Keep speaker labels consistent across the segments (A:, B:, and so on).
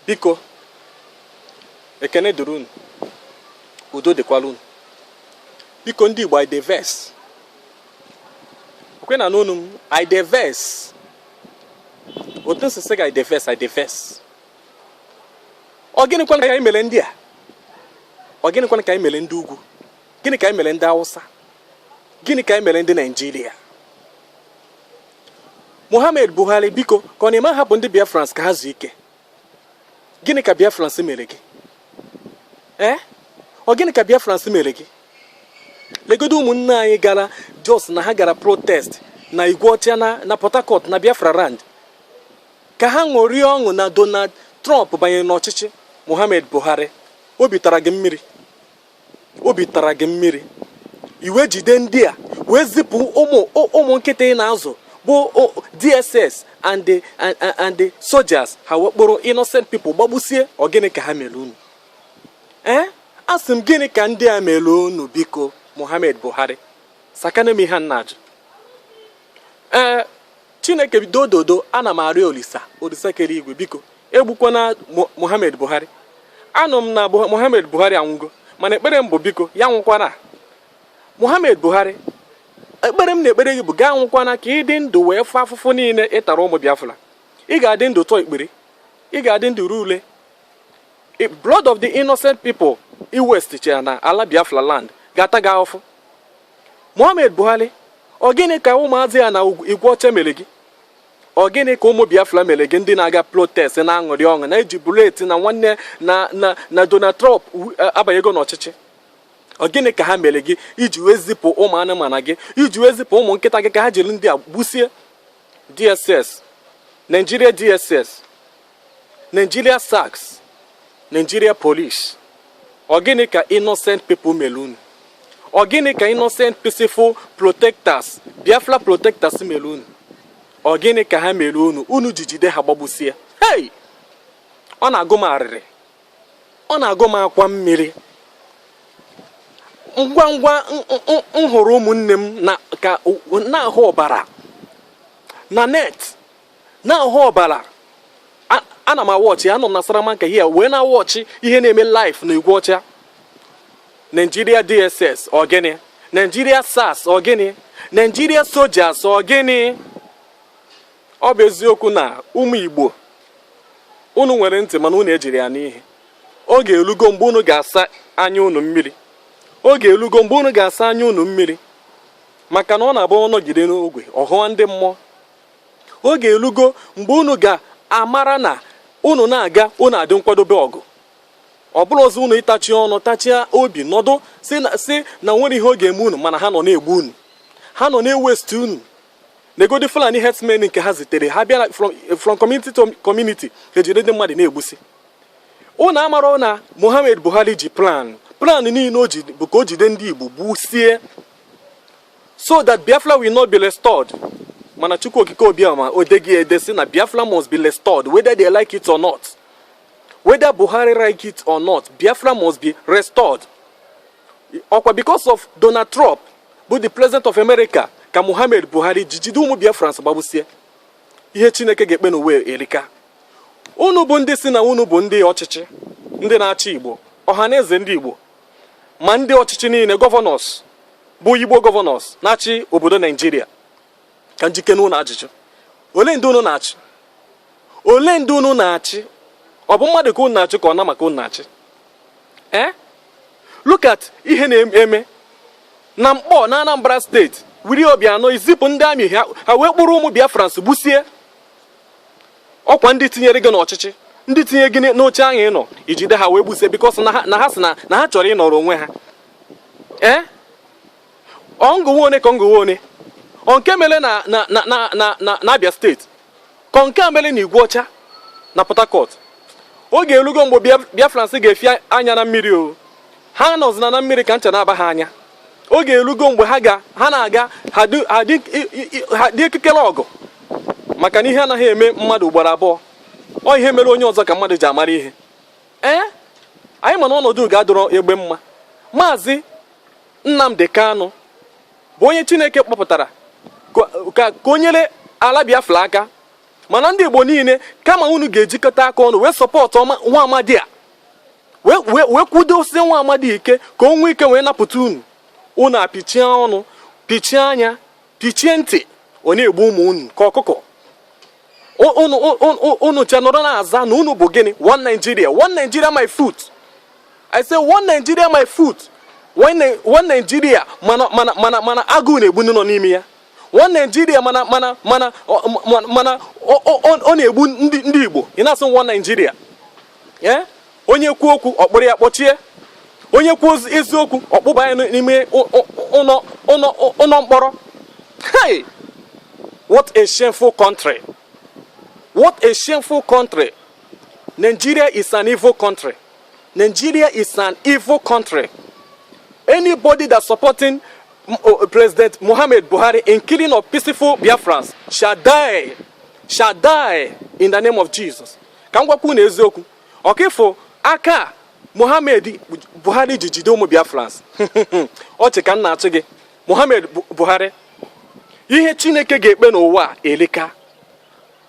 A: biko ekene dụrụ unu udo dịkwara unu biko ndị Igbo ideves okwe na n'ọnụ m ideves otu nsisi ga ideves ideves ọ gịnịkwa ka anyị mere ndị a ọ gịnịkwa ka anyị mere ndị ugwu gịnị ka anyị mere ndị Hausa gịnị ka anyị mere ndị Naịjirịa Muhammad Buhari biko ka ọ na-eme ahapụ ndị Biafrans ka ha zuo ike gịnị ka Biafrans mere gị ee eh? ọ gịnị ka Biafrans mere gị legodo ụmụnne anyị gara just na ha gara protest na Igweọcha na Port Harcourt na Biafra land ka ha ṅụrie ọṅụ na Donald Trump banyere n'ọchịchị Muhammad Buhari obi tara gị mmiri obi tara gị mmiri iwe jide ndị a wee zipụ ụmụ ụmụ nkịta ị na-azụ bụ DSS and the and the soldiers ha wee kpọrọ innocent people gbagbusie ọ gịnị ka ha mere unu ee eh? asị m gịnị ka ndị a mere unu biko Muhammad Buhari sakene m ihe m na-ajụ ee eh, Chineke dododo ana m arịọ Olisa Olisa kere igwe biko egbukwana Muhammad Buhari anụ m na Muhammad Buhari anwụgo mana ekpere m bụ biko ya anwụkwana Muhammad Buhari ekpere m na-ekpere gị bụ gị anwụkwana ka ị dị ndụ wee fụ afụfụ niile ị tara ụmụ Biafra ị ga-adị ndụ tụọ ikpere ị ga-adị ndụ ree ule blood of the innocent people ị wastechara na ala Biafra land ga-ata gị ahụfụ Muhammad Buhari ọ gịnị ka ụmụazị a na Igweọcha mere gị ọ gịnị ka ụmụ Biafra mere gị ndị na-aga protest na-aṅụrị ọṅụ na-ejubilate na nwanne na na na Donald Trump abanyego n'ọchịchị ọ gịnị ka ha mere gị i ji wee zipụ ụmụ anụmanụ gị i ji wee zipụ ụmụ nkịta gị ka ha jiri ndị a gbusie DSS Nigeria DSS Nigeria SARS, Nigeria Police, ọ gịnị ka innocent people mere unu? Ọ gịnị ka innocent peaceful protectors, Biafra protectors mere unu? Ọ gịnị ka ha mere unu? Unu ji jide ha gbagbusie. Hey! Ọ na-agụ m arịrị. Ọ na-agụ m akwa mmiri. Ngwa ngwa m hụrụ ụmụnne m ka na-ahụ ọbara na net na-ahụ ọbara ana m awatch anọ m na Salamanca here wee na-awatch ihe na-eme live na Igweọcha Nigeria DSS ọ gịnị Nigeria SARS ọ gịnị Nigeria soldiers ọ gịnị ọ bụ eziokwu na ụmụ Igbo unu nwere ntị mana unu ejiri ya anụ ihe oge elugo mgbe unu ga-asa anya unu mmiri oge elugo mgbe unu ga-asa anya unu mmiri maka na ọ na-abụ ọ nọgide n'ogwe ọ hụwa ndị mmụọ oge elugo mgbe unu ga-amara na unu na-aga unu adị nkwadobe ọgụ ọ bụrụ ọzọ unu ịtachi ọnụ tachia obi nọdụ sị na nwere ihe ọ ga-eme unu mana ha nọ na-egbu unu ha nọ na-ewesti unu negodi Fulani herdsmen nke ha zitere ha bịara from community to community ejide ndị mmadụ na-egbusi unu amarọ na Muhammad Buhari ji plan plan niile o ji bụ ka o jide ndị Igbo gbusie so that Biafra will not be restored mana Chukwu Okike Abịama o dego ya ede sị na Biafra must be restored whether they like it or not whether Buhari like it or not Biafra must be restored ọkwa because of Donald Trump bụ the president of America ka Muhammad Buhari ji jide ụmụ Biafrans gbagbusie ihe Chineke ga-ekpe n'ụwa erika unu bụ ndị sị na unu bụ ndị ọchịchị ndị na-achị Igbo Ọhanaeze ndị Igbo ma ndị ọchịchị niile governors bụ Igbo governors na-achị obodo Nigeria ka m jụkene unu ajụjụ olee ndị unu na-achị olee ndị unu na-achị ọ bụ mmadụ ka unu na-achị ka ọ nama ka unu na-achị ee look at ihe na-eme na Nkpọ na Anambra steeti Willie Obiano ezipụ ndị army ha wee kpụrụ ụmụ Biafrans gbusie ọkwa ndị tinyere gị n'ọchịchị ndị tinye gị n'oche ahụ ị nọ i jide ha wee gbusie because na ha sị na ha chọrọ ịnọrọ onwe ha ee ọ m gụwa one ka ọ m gụwa one nke mere na na na na na n'Abia steeti ka nke a mere na Igweọcha na Port Harcourt oge elugo mgbe Biafrans ga-efi anya na mmiri o ha nọzina na mmiri ka ncha na-aba ha anya oge elugo mgbe ha ga ha na-aga ha dị ekekere ọgụ maka na ihe anaghị eme mmadụ ugboro abụọ ọ ihe mere onye ọzọ ka mmadụ ji amara ihe ee anyị ma na ọnọdụ ga-adịrị egbe mma maazị Nnamdi Kanu bụ onye Chineke kpọpụtara ka o nyere ala Biafra aka mana ndị Igbo niile kama unu ga-ejikọta aka ọnụ wee support nwa amadi a wee kwudosie nwa amadi ike ka o nwee ike wee napụta unu unu apịchie ọnụ pịchie anya pịchie ntị a na-egbu ụmụ unu ka ọkụkọ unu ncha nọrọ na-aza na unu bụ gịnị one Nigeria one Nigeria my foot I say one Nigeria my foot one Nigeria mana mana mana mana agụụ na-egbu ndị nọ n'ime ya one Nigeria mana mana mana mana ọ na-egbu ndị ndị Igbo ị na-asị one Nigeria ee onye kwuo okwu ọ kpụrụ ya kpọchie onye kwuo eziokwu ọ kpụba ya n'ime ụlọ mkpọrọ hey what a shameful country what a shameful country Nigeria is an evil country Nigeria is an evil country. Anybody that's supporting uh, President Muhammad Buhari in killing of peaceful Biafrans shall die, shall die in the name of Jesus. Ka m gwakwu unu eziokwu ọka ị fụ aka Muhammad Buhari ji jide ụmụ Biafrans ọchị ka m na-achị gị Muhammad Buhari ihe Chineke ga-ekpe n'ụwa a elika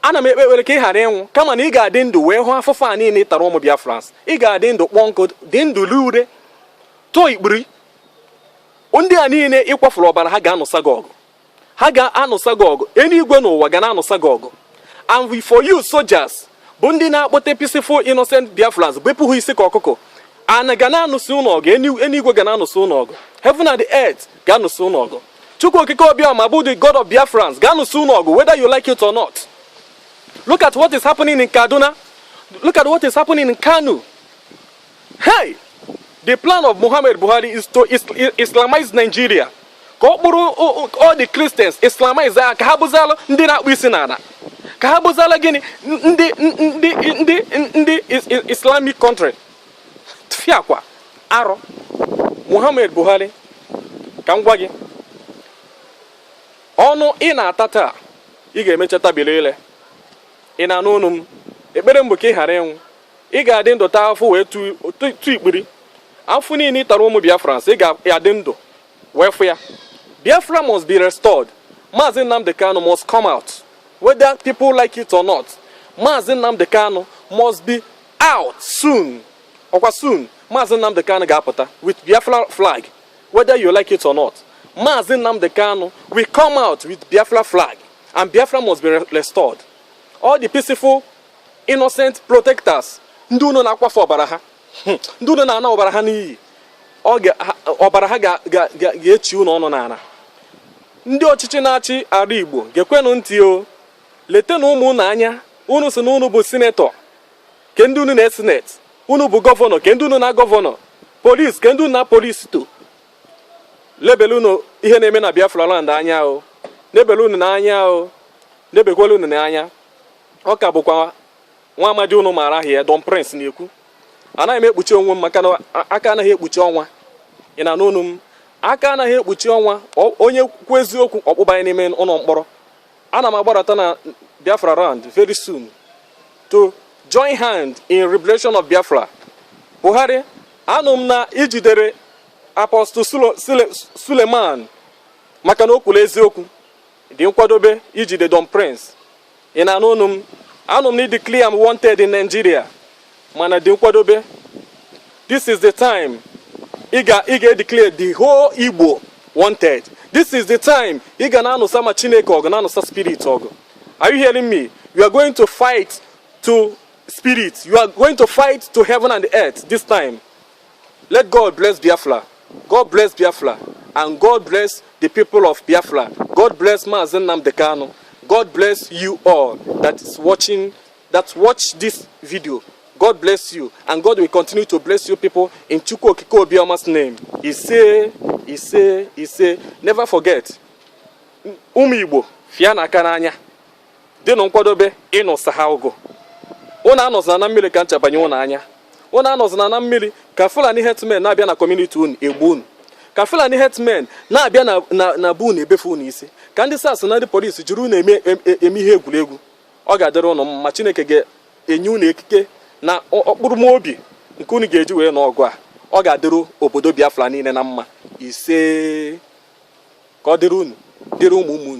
A: ana m ekpe ekpere ka ị ghara ịnwụ kama na ị ga-adị ndụ wee hụ afụfụ a niile ị tara ụmụ Biafrans ị ga-adị ndụ kpọọ nkụ dị ndụ ree ure tụọ ikpiri ndị a niile ị kwafuru ọbara ha ga-anụsa gị ọgụ ha ga-anụsa gị ọgụ eluigwe na ụwa ga na-anụsa gị ọgụ and for you soldiers bụ ndị na-akpọte peaceful innocent Biafrans bepụ ha isi ka ọkụkọ ana ga na-anụsi unu ọgụ eluigwe ga na-anụsi unu ọgụ heaven and the earth ga-anụsi unu ọgụ Chukwu Okike Obiọma bụ the God of Biafrans ga-anụsị unu ọgụ whether you like it or not. Look at what is happening in Kaduna. Look at what is happening in Kano. Hey! The plan of Muhammad Buhari is to Islamize Nigeria. Ka ọ kpụrụ all the Christians Islamize ya ka ha bụzalụ ndị na-akpọ isi n'ala. Ka ha bụzalụ gịnị ndị ndị ndị ndị Islamic country. tufiakwa arụ Muhammad Buhari ka m gwa gị ọnụ ị na-ata taa ị ga-emecha tabili ile ị na-anụ onu m ekpere m bụ ka ị ghara ịnwụ ị ga-adị ndụ taa afụfụ wee tụọ ikpiri afụfụ niile ị tara ụmụ Biafrans ị ga-adị ndụ wee fụ ya Biafra must be restored Maazị Nnamdi Kanu must come out whether people like it or not Maazị Nnamdi Kanu must be out soon ọkwa soon Maazị Nnamdi Kanu ga-apụta with Biafra flag whether you like it or not Maazị Nnamdi Kanu will come out with Biafra flag and Biafra must be restored all the peaceful innocent protesters ndị unu na-akwafu ọbara ha hmm. ndị unu na-ana ọbara ha n'iyi ọbara ha ga-echi unu ọnụ n'ala ndị ọchịchị na-achị ala Igbo geekwenụ ntị o letenụ ụmụ unu anya unu si na unu bụ sinetọ ke ndị unu na-esineti unu bụ gọvanọ ke ndị unu na-agọvanọ polis ke ndị unu na polis to lebele unu ihe na-eme na Biafra land anya o lebele unu n'anya o lebekwele unu n'anya ọ ka bụkwa nwa amadi unu maara aha ya Don Prince na-ekwu anaghị m ekpuchi onwe m maka na aka anaghị ekpuchi ọnwa ị na-anụ onu m aka anaghị ekpuchi ọnwa onye kwuo eziokwu ọ kpụba ya n'ime ụlọ mkpọrọ Ana m agbarata na Biafra land very soon to join hand in liberation of Biafra. Buhari, anụ m na i jidere Apostle Suleman maka na o kwuru eziokwu dị nkwadobe ijide Don Prince. Ị na-anụ onu m anụ m na i declare m wanted in Nigeria. mana dị nkwadobe this is the time ị ga ị ga-edeclare the whole Igbo wanted this is the time ị ga na-anụsa ma Chineke ọgụ na-anụsa spirit ọgụ are you hearing me you are going to fight to spirit you are going to fight to heaven and earth this time let God bless Biafra God bless Biafra and God bless the people of Biafra God bless Maazị Nnamdi Kanu God bless you all that is watching that watch this video. God bless you, and God will continue to bless you people in Chukwu Okike Abiama's name. Ise, ise, ise, never forget, ụmụ Igbo fịanụ aka n'anya dịnụ nkwadobe ịnụsa ha ọgụ unu anọzina na mmiri ka ncha banye unu anya unu anọzina na mmiri ka Fulani herdsmen na-abịa na community unu egbu unu ka Fulani herdsmen na-abịa na be unu ebefe unu isi ka ndị SARS na ndị polisi jiri unu eme ihe egwuregwu ọ ga-adịrị unu mma Chineke ga-enye unu ekike na ọkpụrụma obi nke unu ga-eji wee nụọ ọgụ a ọ ga-adịrị obodo Biafra niile na mma ise ka ọ dịrị unu dịrị ụmụ ụmụ unu